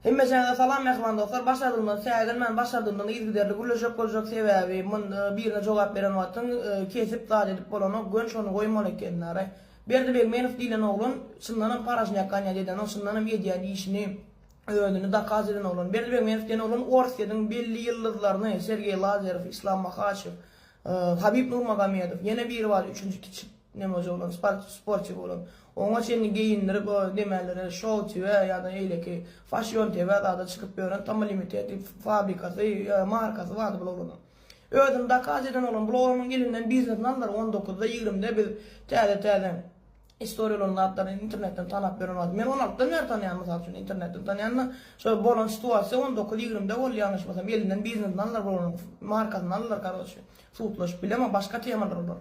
Hemmeçäňize salam mähriban dostlar başardygymdan säginmän başardygymdan yzgiderli gürleşjek boljak sebäbi munda birine jogap beren wagtyň kesip zat edip bolanok gön şony goýmaly ekenlare Berdi Begmenow diýlen oglan çyndanam paraşnýak ganýady edenok çyndanam edýän işini özüni dakaz eden oglan Berdi Begmenow diýen oglan Orsýediň belli ýyldyzlaryny Sergeý Lazerow Islam Mahaçew Habib Nurmagomedow, ýene biri bar üçünji kiçi nemoje bolan sport sportiw bolan. Oňa çenli geýindirip o demälere şou tv ýa-da eýleki fashion tv zada çykyp ýören tammy limited diýip fabrikasy ýa markasy bardy bul oglanyň. Özüni dakaz eden oglan bul oglanyn elinden biznesini aldylar on dokuzda ýigrimide biz täze täze Istoriýalaryň zatlaryny internetden tanap bilen boldy. Men on altydan bäri tanýan mysal üçin internetden tanýanda şo bolan situasiýa on dokuz ýigrimde boldy ýalňyşmasam elinden biznesini aldylar bir oglan markasyny aldylar karoçe sudlaşyp bilemok başga temalar olar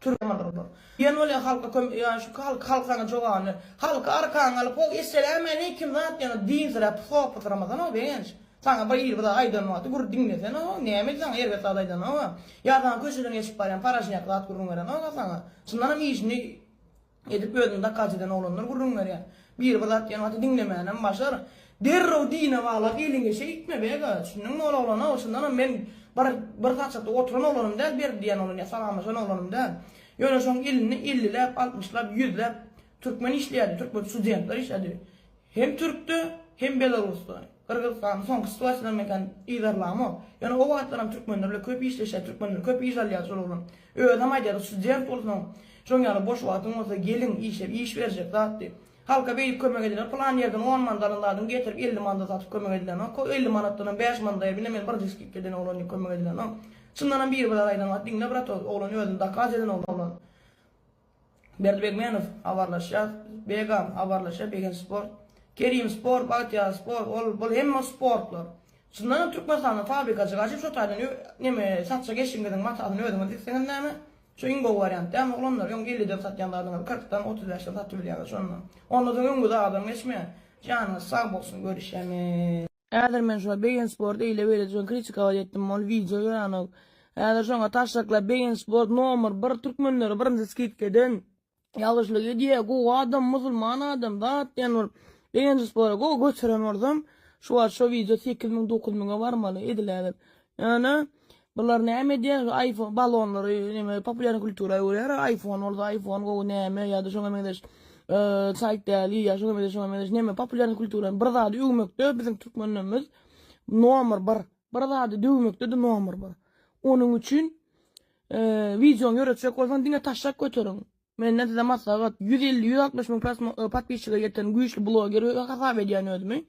türkmen olar diýen bolýar halka kömek ýa şu halk halk saňa jogabyny halky arkaňa alyp hok esselämäneýkim zat ýaňy diňziräp sopysyramasan hok begenç. Saňa biri bir zat aýdan wagty gür diňlesene-ow, nämedi saňa erbet zat aýdany-ow-a? Ýa saňa köçeden geçip barýan paraşňýak zat gürrüň beren-ow-a saňa? Çyndanam işini edip özüni dakgaç eden oglanlar gürrüň berýär. Biri bir zat diýen wagty diňlemänem başar. Derrew dine baglap eliňe şeýtme beg-a, düşündiňmi ol oglan-ow, çyndanam men bir bir saçakda oturan oglanym däl, berdi diýen oglan ýa salamlaşan oglanym däl. Ýöne şoň elini elliläp, altmyşlap, ýüzläp, Türkmen işleýärdi, türkmen studentler işledi. Hem türkde, hem belarusda. Gyrgyzystanda soňky situasiýadan men kän yzarlamok. Ýöne o wagtlaram türkmenler bile köp işleşýär, türkmenler köp iş alýar şol ugrun. Özem aýdýardy, student bolsaň, şoň ýaly boş wagtyň bolsa gelin işe, iş berjek zat diýip. Halka beýdip kömek edilýär, pylan ýerden on manada alan zadyňy getirip elli manada satyp kömek edilenok. O elli manatdanam bäş manada ýa bile men birinji skidka eden oglan diýip kömek edilenok. Çyndanam biri bir zat aýdan wagty diňle brat ol oglan özüni dokaz eden oglan. Berdibegmenow, Habarlaşýas, Begam, Habarlaşýa, Begen sport, Kerim sport, Bagtyýar sport, ol, bul hemme sportlar. Çyndanam Türkmenistanda fabrikajyk açyp şo taýdan ö, neme, satjak eşigiňiziň matasyny özüňiz dikseňiz näme? Şo iň gowy wariant dälmi oglanlar? Öň elliden satýan zadyňyzy kyrkdan, otuz bäşden satybilýäňiz şonda. Onda soň öňüňize adam geçmeýär. Janyňyz sag bolsun, görüşemiz. Häzir men şuňa Begin Sport eýle beýle diýen kritika wada etdim ol wideo ýöranok. Häzir şoňa taşşaklap Begin Sport nomer bir türkmenleri birinji skidka eden. Ýalgyşlyk edýä gowy adam musulman adam zat diýen bolup Begin Spora gowy göteren bolsam şu wagt şo wideo sekiz müň dokuz müňe barmaly ediläbir. Ana, bular näme edýär? Şu iPhone balonlary näme populýar kultura öwürýär. iPhone bolsa iPhone gowy näme ýa-da şoňa meňzeş eee, saýt däli ýa şoňa meňzeş, şoňa meňzeş näme populýar kultura bir zady öwmekde biziň türkmenlerimiz nomer bir. Bir zady döwmekde-de nomer bir. Onuň üçin eee, wideony ýöretjek bolsaň diňe taşşak göteriň. Menden size maslahat, ýüz elli, ýüz altmyş müň prosmo, podpisçiga ýeten güýçli bloger hasap edýän özümi.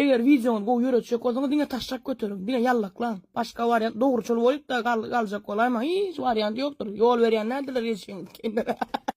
Eger wideoňyzy gowy ýöretjek bolsaňyz diňe taşşak göteriň, diňe ýallaklaň. Başga wariant dogruçyl bolyp-da galjak bolaýmaň, hiç wariant ýokdur. Ýol berýän däldirler gelşigiňiz.